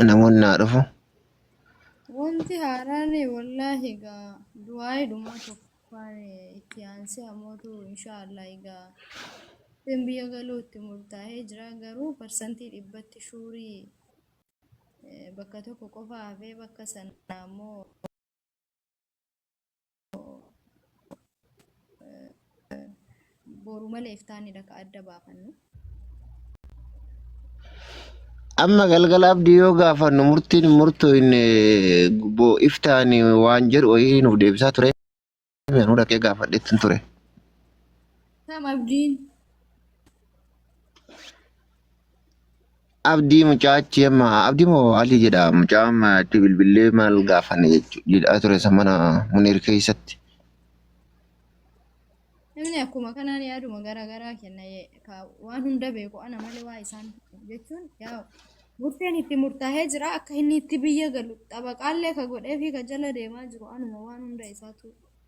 namoonni naa dhufu Wanti haaraan wallaahi egaa du'aa'ee dhumaa tokkoffaan itti aansee amootu inshaallah egaa isin biyya galuu itti murtaa'ee jira garuu parsantii dhibbatti shuurii eh, bakka tokko qofa hafee bakka sana ammoo boru malee iftaanidha ka adda baafannu. Amma galgala abdii yoo gaafannu murtiin hin murtooyne bo iftaani waan jedhu wayii nuuf deebisaa ture. Anuu dhaqee gaafadheettin ture. Kam abdiin Abdii mucaa achi amma abdii moo alii jedha mucaa amma itti bilbillee maal gaafanne jechuudha jedhaa ture isa mana muniir keessatti. Namni akkuma kanaan yaaduma gara garaa kenna ye- ka waan hunda beeku ana malee waa isaan jechuun yaa murteen itti murtaa'ee jira akka inni itti biyya galu xabaqaallee ka godhee fi ka jala deemaa jiru anuma waan hunda isaatu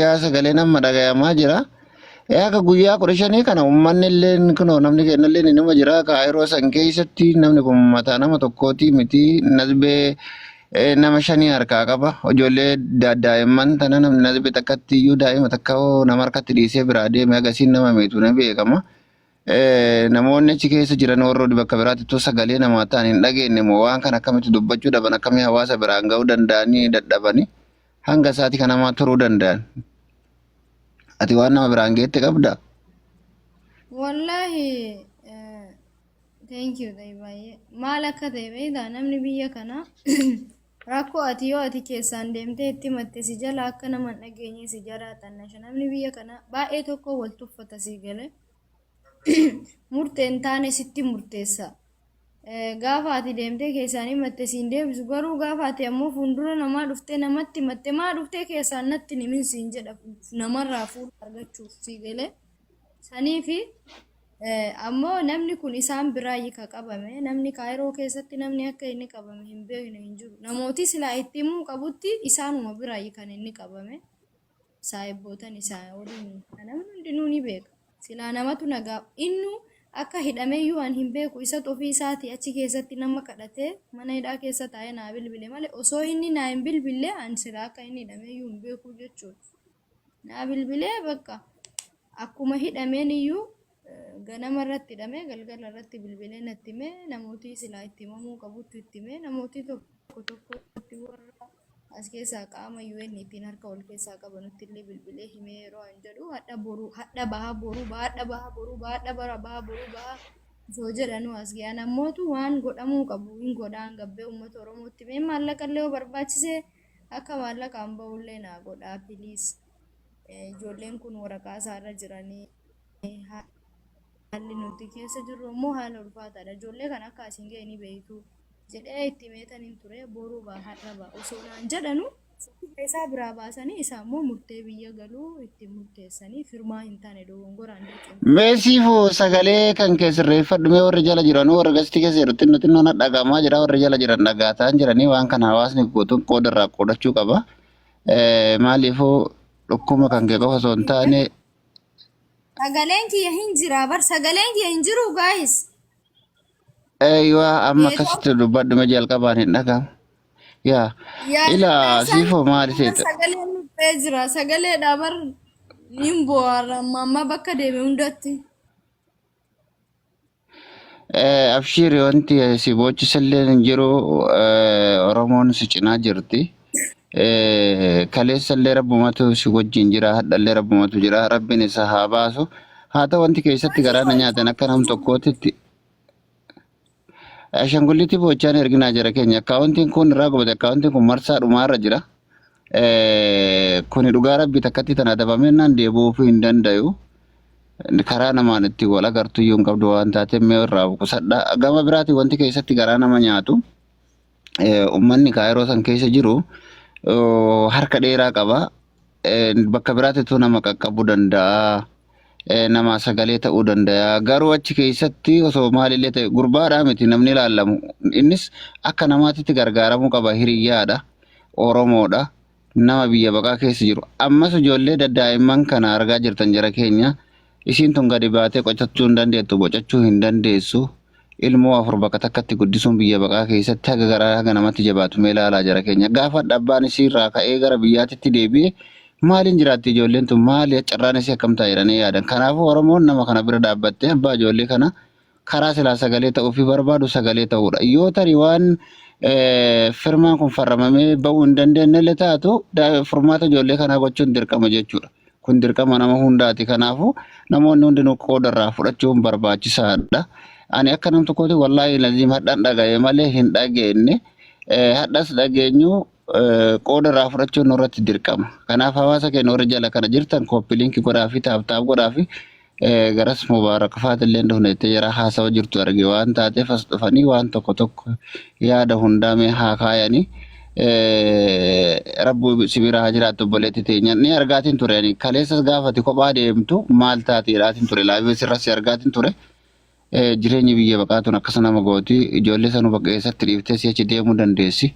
yaa sagaleen amma dhagayamaa jira. Ee akka guyyaa kudha shanii kana uummanni illee kunoo namni keenya illee ni nama jira kaayiroo san keessatti namni kun mataa nama tokkooti miti nasbee ee, nama shanii harkaa qaba ijoollee da- daa'imman tana namni nasbee takkatti iyyuu daa'ima takka hoo nama harkatti dhiisee biraa deeme agasiin nama miitu ni beekama. Eh, namoonni achi keessa jiran warroonni bakka biraatti utuu sagalee namaa ta'an hin dhageenye moo waan kana akkamitti dubbachuu dhaban akkamii hawaasa biraan ga'uu danda'anii dadhabanii hanga isaati kan namaa turuu danda'an. Ati waan nama biraan geette qabda. Wallaahi eh, thank you ta'e baay'ee maal akka ta'e beektaa namni biyya kana rakkoo ati yoo ati keessaan deemtee itti himatte si jala akka nama hin dhageenye si jala xannasha namni biyya kana baay'ee tokko wal tuffata si gale murtee hin taane sitti murteessa Gaafa ati deemtee keessaan himatte siin deebisu garuu gaafa ati ammoo fuuldura namaa dhuftee namatti himatte maa dhuftee keessaan natti hin himin siin jedha namarraa fuula argachuuf sii galee saniifi ammoo namni kun isaan biraayyi ka qabame namni kaayiroo keessatti namni akka inni qabame hin beekne hin jiru namootii silaa itti himuu qabutti isaanuma biraayyi kan inni qabame. saahibbootani isaa waliin ka namni hundinuu ni beeka. Silaa namatu nagaa innu akka hidhameyyuu an hin beeku isatu ofii isaati achi keessatti nama kadhatee mana hidhaa keessa taa'ee naa bilbile malee osoo inni naa hin bilbille an silaa akka inni hidhameyyuu hin beeku jechuudha. Naa bilbilee bakka akkuma hidhameen iyyuu Ganama irratti hidhamee galgala irratti bilbilee natti himee namootii silaa itti himamuu qabutti itti himee namootii tokko tokkotti warra as keessaa qaama UN ittiin harka wal keessaa qabanutti illee bilbilee himee yeroo an jedhu hadha boruu hadha baha boruu baha hadha baha boruu baha hadha bara baha boruu baha osoo jedhanuu as ga'an ammootu waan godhamuu qabu hin godhaan gabbee uummata Oromootti mee maallaqa illee yoo barbaachisee akka maallaqaan ba'ullee naa godhaa piliis ijoolleen kun waraqaa isaarra jiranii. haalli nuti keessa jirru immoo haala ulfaataadha. Ijoollee kana akka asiin ga'e ni beektu jedhee itti meetan hin ture boruu ba'a har'a ba'a osoo naan jedhanu isaa biraa baasanii isaa immoo murtee biyya galuu ittiin murteessanii firmaa hin taane dogongoraan dirqama. Meesiifu sagalee kan kee sirreeffadhu mee warri jala jiran warra gastii keessa jiru xinno xinno na dhagahamaa jira warri jala jiran dhagaataan jiranii waan kana hawaasni guutuun qooda irraa qoodachuu qaba. Eh, Maaliifuu dhukkuma kan kee qofa osoo hin taane Sagaleen kiyya hin jira bar sagaleen kiyya hin jiru guys. Eeywa amma Neetoo akkasitti dubbadhume jalqabaan hin dhagahamu. Yaa yaa ila sagalee isaa siifoo hin maali jira seeta? sagalee nu ba'ee jira sagaleedha bar hin boo'arra amma amma bakka deeme hundatti. Eh, Abshiiri wanti si boochisallee hin jiru eh, Oromoon si cinaa jirti. Eh, Kaleessallee rabbumatu si wajjin jira, hadhallee rabbumatu jira, rabbiin isa haa baasu. Haa ta'u wanti keessatti garaa na nyaatan akka nam tokkootitti Ashangulliitii boochaan erginaa jira keenya. Akkaawuntiin kun irraa gubate, akkaawuntiin kun marsaa dhumaarra jira. Kuni dhugaa rabbi takkatti tana dabamennaan deebi'uufuu hin dandayu. Karaa namaan itti wal agartu iyyuu hin qabdu waan taateef mee irraa of qusadha. Gama biraatiin wanti keessatti garaa nama nyaatu uummanni kaayiroo san keessa jiru harka dheeraa qaba. Bakka biraatittuu nama qaqqabuu danda'a. namaa sagalee ta'uu danda'a. Garuu achi keessatti osoo maalillee ta'e gurbaadhaa miti namni ilaallamu. Innis akka namaatitti gargaaramuu qaba hiriyyaadha. Oromoodha. Nama biyya baqaa keessa jiru. Ammas ijoollee daddaa'imman kana argaa jirtan jara keenya. Isiin tun gadi baatee qocachuu hin dandeettu, bocachuu hin dandeessu. Ilmoo afur bakka takkatti guddisuun biyya baqaa keessatti haga garaa haga namatti jabaatu mee laalaa jara keenya. Gaafadha abbaan isii irraa ka'ee gara biyyaatitti deebi'e maaliin jiraatti ijoolleen tun maali carraan isii akkam ta'a jedhanii yaadan. Kanaafuu Oromoon nama kana bira dhaabbattee abbaa ijoollee kana karaa silaa sagalee ta'uufii barbaadu sagalee ta'uudha. Yoo tarii waan eh, firmaan kun farramamee ba'uu hin dandeenyelle taatu da- furmaata ijoollee kanaa gochuun dirqama jechuudha. Kun dirqama nama hundaati. Kanaafuu namoonni hundinuu qooda irraa fudhachuun barbaachisaadha. Ani akka nam tokkooti wallaahi laziim hadhan dhaga'e malee hin dhageenye. Hadhas dhageenyu qooda irraa fudhachuun nurratti dirqama. Kanaaf hawaasa keenya warri jala kana jirtan kooppi liinki godhaafi taaptaap godhaafi garas Mubaarak faatillee hin dhufne jettee jara haasawa jirtu arge waan taateef as dhufanii waan tokko tokko yaada hundaa mee haa kaayanii rabbu si bira haa jiraattu obboleetti teenya ni argaatiin ture ani kaleessas gaafati kophaa deemtu maal taati jedhaatiin ture laabees irras si argaatiin ture jireenyi biyya baqaatuun akkasa nama gooti ijoollee sanuu bakka eessatti dhiiftee si achi deemuu dandeessi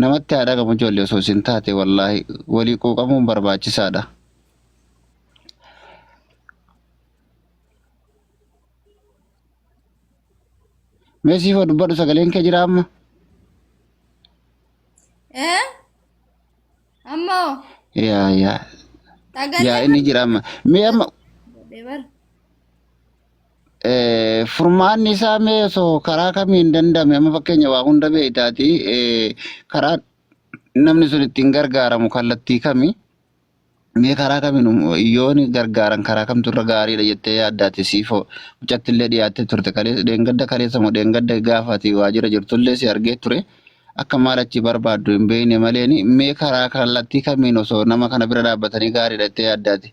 namatti haa dhagamu ijoollee osoo isin taate wallaahi walii quuqamuun barbaachisaadha. Mee siif haa dubbadhu sagaleen kee jira amma. Eh? Ammoo Yaa yaa yaa sagalee inni jira amma. Mee amma godhe bar. eh, furmaanni isaa mee osoo karaa kamiin danda'ame amma fakkeenya waa hunda beektaati eh, karaa namni sun ittiin gargaaramu kallattii kami? Mee karaa kamiin um- yoon gargaaran karaa kamtu irra gaariidha jettee yaaddaati siifoo mucatti illee dhiyaattee turte kaleessa dheengadda kaleessa moo dheengadda gaafa ati waajjira jirtu illee si argee ture akka maal achi barbaaddu hin beekne maleen mee karaa kallattii kamiin osoo nama kana bira dhaabbatanii gaariidha jettee yaaddaati.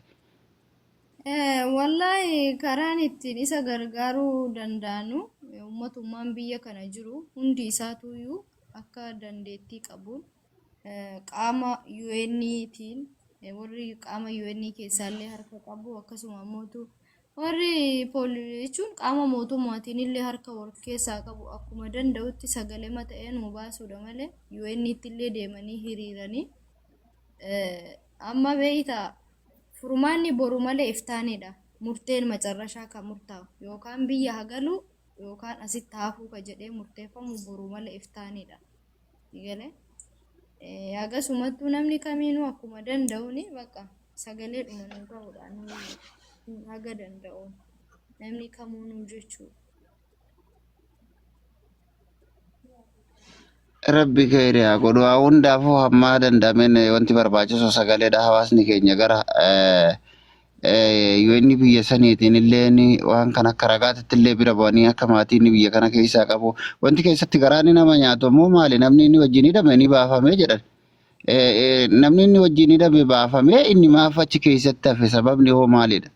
Eh, Wallaahi karaan ittiin isa gargaaruu danda'anu eh, ummatummaan biyya kana jiru hundi isaatuyyuu akka dandeettii qabuun qaama UN tiin warri qaama UN keessaallee harka qabu akkasuma ammootu warri poolisii jechuun qaama mootummaatiin illee harka wal keessaa qabu akkuma danda'utti sagalee mata'ee nu baasuudha malee UN tti illee deemanii hiriiranii eh, amma beeyta furmaanni boru malee iftaanidha murteen macarrashaa kan murtaa'u yookaan biyya hagalu yookaan asitti hafuu ka jedhee murteeffamu boru malee iftaanidha. Galee. Akkasumattuu namni kamiinuu akkuma danda'uun bakka sagalee dhuma nuu ta'uudhaan nuu haga danda'uun namni kamuu nuu jechuudha. Rabbi keenya haa godhu haa hundaafuu hamma danda'ameen wanti barbaachisu sagaleedha hawaasni keenya gara UN biyya saniitiin illee waan kan akka ragaatitti illee bira bu'anii akka maatii inni biyya kana keessaa qabu wanti keessatti garaa inni nama nyaatu ammoo maali namni inni wajjin hidhame ni baafamee jedhan. Namni inni wajjin hidhame baafamee inni maaf achi keessatti hafe sababni hoo maalidha?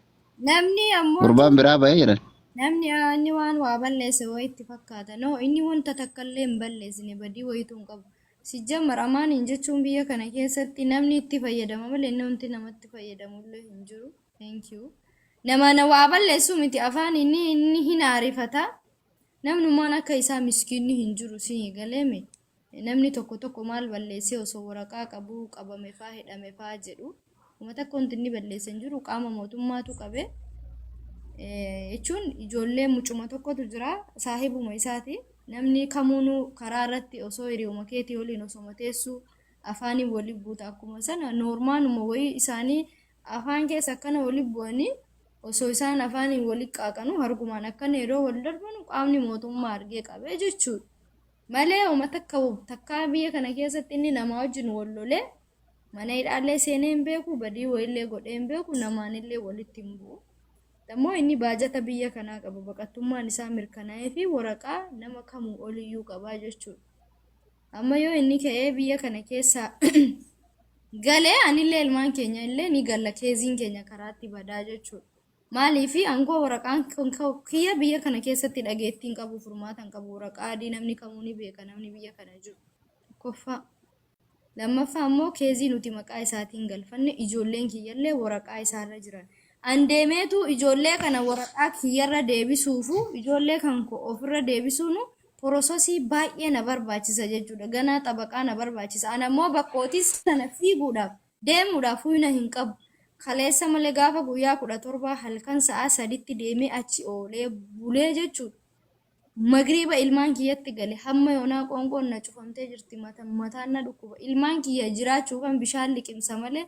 Namni ammoo Gurbaan biraa ba'ee jedhan. namni aa, inni waan waa balleesse wayitti fakkaata. No, inni wanta takka illee hin balleessine badii wayituu hin qabu. Sijjamar amaaniin jechuun biyya kana keessatti namni itti fayyadama malee namti namatti fayyadamullee hin jiru. Thank you. Namana waa balleessuu miti afaan inni inni hin aarifata. Namnummaan akka isaa miskiinni hin jiru si galeeme. Namni tokko tokko maal balleessee osoo waraqaa qabuu qabame faa hidhame faa jedhu. Akkuma takka wanti inni balleesse hin jiru qaama mootummaatu qabe. Jechuun ijoollee mucuma tokkotu jira saahibuma isaati. Namni kamuunuu karaa irratti osoo hiriyooma keetii waliin osoma teessu afaaniin wali buuta akkuma sana noormaanuma wayii isaanii afaan keessa akkana wali bu'anii osoo isaan afaaniin wali qaaqanu hargumaan akkana yeroo wal darbanu qaamni mootummaa argee qabee jechuudha. Malee uma takka takkaa biyya kana keessatti inni namaa wajjin wal lolee Mana hidhaallee seenee hin beeku, badii wayillee godhee hin beeku, namaanillee walitti hin bu'u. Ammoo inni baajata biyya kanaa qaba, baqattummaan isaa mirkanaa'ee fi waraqaa nama kamuu oliyyuu qaba jechuudha. Amma yoo inni ka'ee biyya kana keessa gale anillee ilmaan keenya illee ni galla keeziin keenya karaatti badaa jechuudha. Maaliif aangoo waraqaan kun ka'u- kiyya biyya kana keessatti dhageettii hin qabu, furmaata hin qabu, waraqaa adii namni kamuu ni beeka namni biyya kana jiru. Tokkoffaa. Lammaffaa immoo keezii nuti maqaa isaatiin galfanne ijoolleen kiyyallee waraqaa isaarra jiran. An deemeetu ijoollee kana waraqaa kiyyarra deebisuufu ijoollee kan koo ofirra deebisuunu porososii baay'ee na barbaachisa jechuudha. Ganaa xabaqaa na barbaachisa. An ammoo bakkootii sana fiiguudhaaf deemuudhaaf huyna hin qabu. Kaleessa malee gaafa guyyaa kudha torbaa halkan sa'aa saditti deemee achi oolee bulee jechuudha. Magriiba ilmaan kiyyatti gale. Hamma yoonaa qoonqoon na cufamtee jirti mataan na dhukkuba. Ilmaan kiyya jiraachuufan bishaan liqimsa malee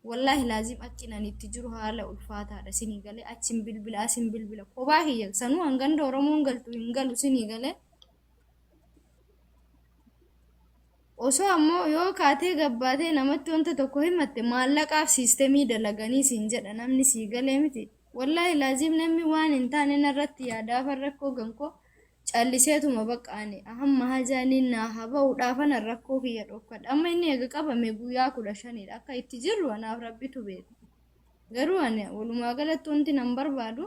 wallaahi laazim akkin ani itti jiru haala ulfaataadha sinii galee achin bilbila asin bilbila kophaa kiyya sanuu hanganda Oromoon galtu hin galu sinii galee. Osoo ammoo yoo kaatee gabbaatee namatti wanta tokko himatte maallaqaaf siistemii dalaganii siin jedha namni sii galee miti. Wallahi laziim namni waan hin taane narratti yaadaafan rakkoo gankoo calliseetuma bakka ani hamma hajaa inni naa haa ba'uudhaafanan rakkoo kiyya dhokkadha amma inni eega qabame guyyaa kudha shaniidha akka itti jirru anaaf rabbitu beeka garuu ani walumaa galatti wanti nan barbaadu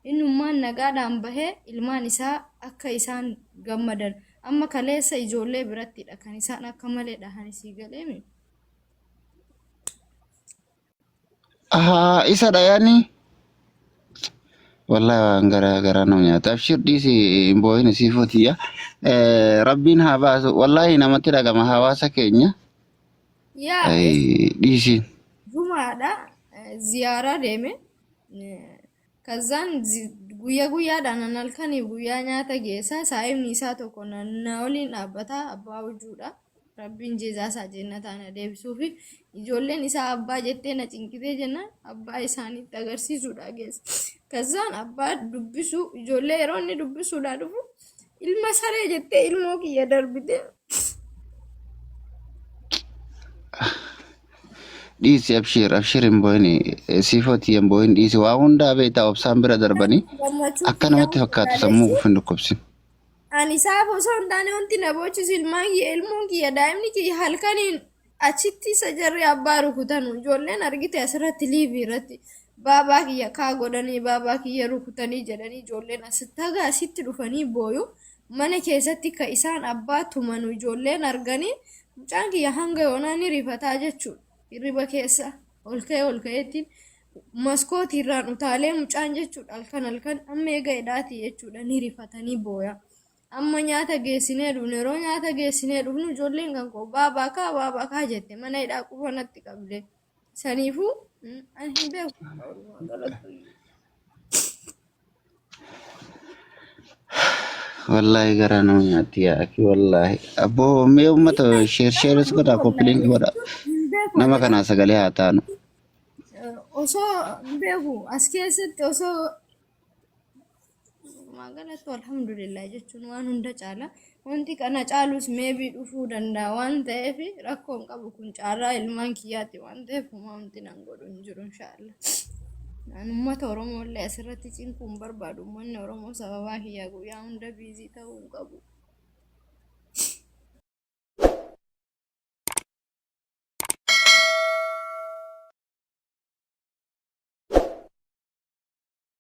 innummaan nagaadhaan bahee ilmaan isaa akka isaan gammadan amma kaleessa ijoollee birattidha kan isaan akka malee dhahan isii galeemi Ahaa isa dhayani. Wallahi waan gara gara nama nyaata. Abshir dhiisi hin boo'in sii footiya. Rabbiin haa baasu. Wallahi namatti dhagama hawaasa keenya. Yaa Ay, Dhiisi. jumaadha ziyaaraa deeme Kazzaan guyya guyyaadhaan an halkaniif guyyaa nyaata geessa saa'imni isaa tokko na, na waliin dhaabbata abbaa hujuudha rabbiin jeezaa isaa jeennataan na deebisuufi ijoolleen isaa abbaa jettee na cinqitee jennaan abbaa isaaniitti agarsiisuudha geessa kazzaan abbaa dubbisuu ijoollee yeroo inni dubbisuudhaa dhufu ilma saree jettee ilmoo kiyya darbite Dhiisi abshiir abshiir hin boo'ini siifooti hin boo'in dhiisi waa hundaa beektaa obsaan bira darbanii gammachuu akka namatti kiyyaa fakkaatu sammuu yaadachuu kufu hin dhukkubsin. ani isaaf osoo hin taane wanti na boochisu ilmaan kiyya ilmoon kiyya daa'imni kiyya halkaniin achitti isa jarri abbaa rukutanu ijoolleen argite asirratti liivii irratti baabaa kiyya kaa godhanii baabaa kiyya rukutanii jedhanii ijoolleen asitti haga asitti dhufanii booyu mana keessatti ka isaan abbaa tumanu ijoolleen arganii mucaan kiyya hanga yoonaa ni rifataa jechuun hirriba keessa ol ka'ee ol ka'eettiin maskootii irraan utaalee mucaan jechuudha halkan halkan amma eega hidhaati jechuudha ni rifatanii booya amma nyaata geessinee dhufne yeroo nyaata geessinee dhufnu ijoolleen kan koo baabaa kaa baabaa kaa jette mana hidhaa qufanatti qabde Saniifuu mm, ani hin beeku. Oromoon dhalattu. Wallaahi garaa nama nyaatti yaa akhi wallaahi. Abboo mee uummata sheer sheeris godhaa koppiliin godha. Hin beeku Nama ani. kanaa sagalee haa taanu. Eh, Osoo hin beeku as keessatti osoo Magaalatti alhamdulillah jechuun waan hunda caala. Wanti kana caalus meebii dhufuu danda'a waan ta'eef rakkoon qabu kun caalaa ilmaan kiyyaatti waan ta'eef humamti nan godhu hin jiru inshaallah. Ani uummata Oromoo illee asirratti cinquu hin barbaadu. Uummanni Oromoo sababaa kiyyaa guyyaa hunda biizii ta'uu hin qabu.